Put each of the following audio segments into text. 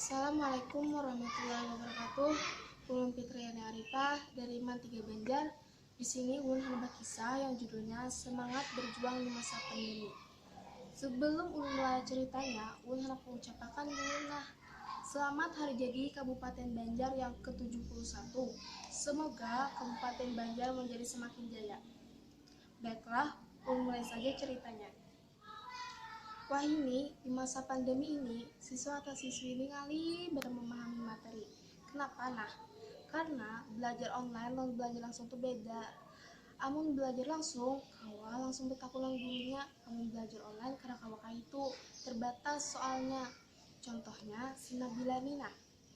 Assalamualaikum warahmatullahi wabarakatuh. Ulun Fitriana Arifah dari MAN 3 Banjar. Di sini ulun handak bakisah yang judulnya Semangat Berjuang di Masa Pandemi. Sebelum ulun mulai ceritanya, ulun handak mengucapakan dulu nah, selamat hari jadi Kabupaten Banjar yang ke-71. Semoga Kabupaten Banjar menjadi semakin jaya. Baiklah, ulun mulai saja ceritanya. Wahini, di masa pandemi ini, siswa atau siswi ini ngalih banar memahami materi. Kenapa nah? Karena belajar online lawan belajar langsung tu beda. Amun belajar langsung, kawa langsung betakun lawan gurunya, amun belajar online kada kawa kayitu, terbatas soalnya. Contohnya si Nabila ni nah.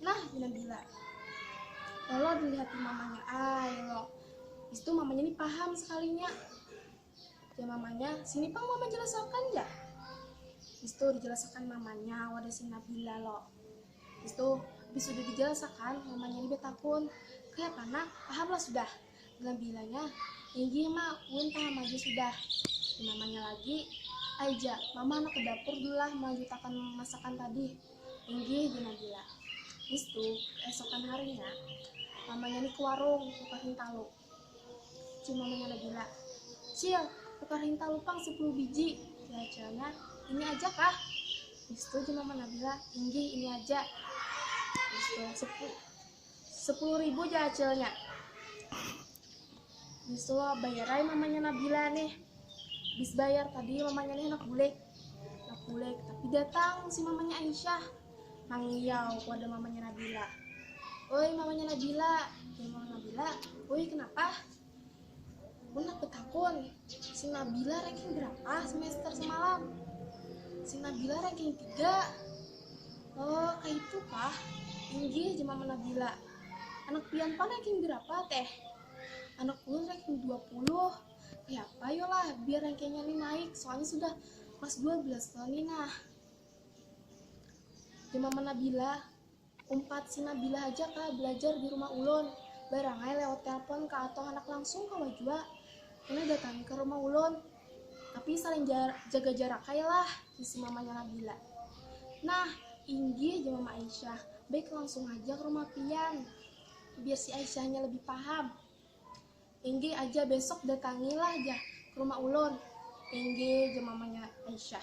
nah pina gila lolo dilihatin mamanya ay lolo itu mamanya ini paham sekalinya ya mamanya sini pang mama jelasakan ya itu dijelasakan mamanya wadah si Nabila lo itu habis sudah dijelasakan mamanya ini betakun kayak mana paham lah sudah Bilang bilanya, inggih ma, ulun paham haja sudah. Namanya lagi, ai ja, mama handak ke dapur dulu lah melanjutakan masakan tadi. Inggih ja Nabila. Bistu, keesokan harinya, mamanya ni ke warung tukar hintalu. Cil mamanya Nabila, cil, tukar hintalu pang sepuluh biji. Jar cilnya, ini aja kah? Bistu ja mama Nabila, inggih ini aja. Bistu, sepuluh Sepuluh ribu aja acilnya. Bisu bayarai mamanya Nabila nih. Bis bayar tadi mamanya nih nak bulik. Nak bulik tapi datang si mamanya Aisyah. Mangiau pada mamanya Nabila. Oi mamanya Nabila, mamanya Nabila, oi kenapa? Bunak betakun, si Nabila ranking berapa semester semalam? Si Nabila ranking 3. Oh, kayak itu kah? Inggih, jemam Nabila. Anak pian pan ranking berapa, Teh? Anak ulun ranking 20. Ya apa yolah, biar rankingnya nih naik, soalnya sudah kelas 12 loh nih nah. Jemam Nabila, Umpat si Nabila haja kah belajar di rumah ulun, barangai lewat telpon ka atau handak langsung kawa jua. Kena datangi ka rumah ulun, tapi saling jaga jarak ai lah, hisi mamanya Nabila. Nah, inggih, jar mama Aisyah, baik langsung haja ka rumah pian, biar si Aisyahnya lebih paham. Inggih aja, besok datangi lah jar ka rumah ulun. Inggih, jar mamanya Aisyah.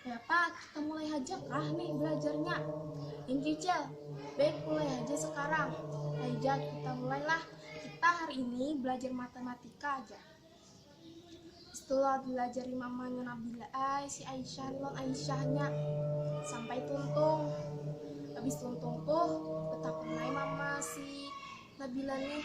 Dapat, kita mulai haja kah nih belajarnya? Incucel, baik mulai haja sekarang. Haja kita mulailah, kita hari ini belajar matematika aja. Setelah diajari mamanya Nabila ay, si Aisyah non Aisyahnya sampai tuntung. Habis tuntung tuh, betakun mama si Nabila nih,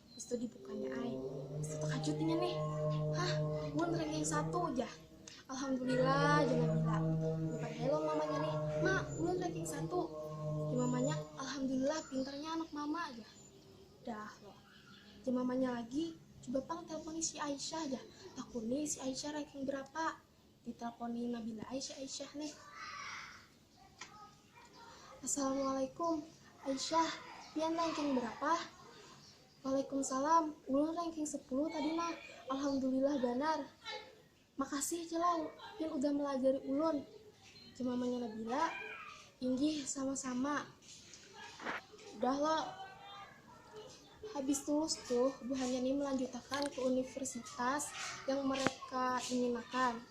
Pastu dibukanya ai. Pastu takajut inya nih. Hah, mun ranking satu jah. Alhamdulillah jana bila. Bukan hello mamanya nih. Ma, ulun ranking satu. Jar mamanya, Alhamdulillah pintarnya anak mama jah. Dah loh. Jar mamanya lagi, coba pang telponi si Aisyah jah. Takuni si Aisyah ranking berapa. Ditelponi Nabila ai si Aisyah nih. Assalamualaikum. Aisyah, pian ranking berapa? Waalaikumsalam, ulun ranking sepuluh tadi nah, alhamdulillah banar. Makasih Cilau, pian udah melajari ulun. Jemamanya Nabila, inggih sama-sama. Udah lo, habis tulus tuh buhannya nih melanjutakan ke universitas yang mereka inginakan.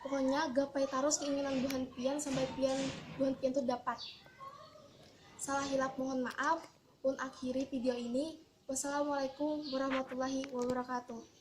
Pokoknya gapai tarus keinginan buhan pian sampai pian buhan pian tu dapat. Salah hilap mohon maaf, un akhiri video ini. Wassalamualaikum warahmatullahi wabarakatuh.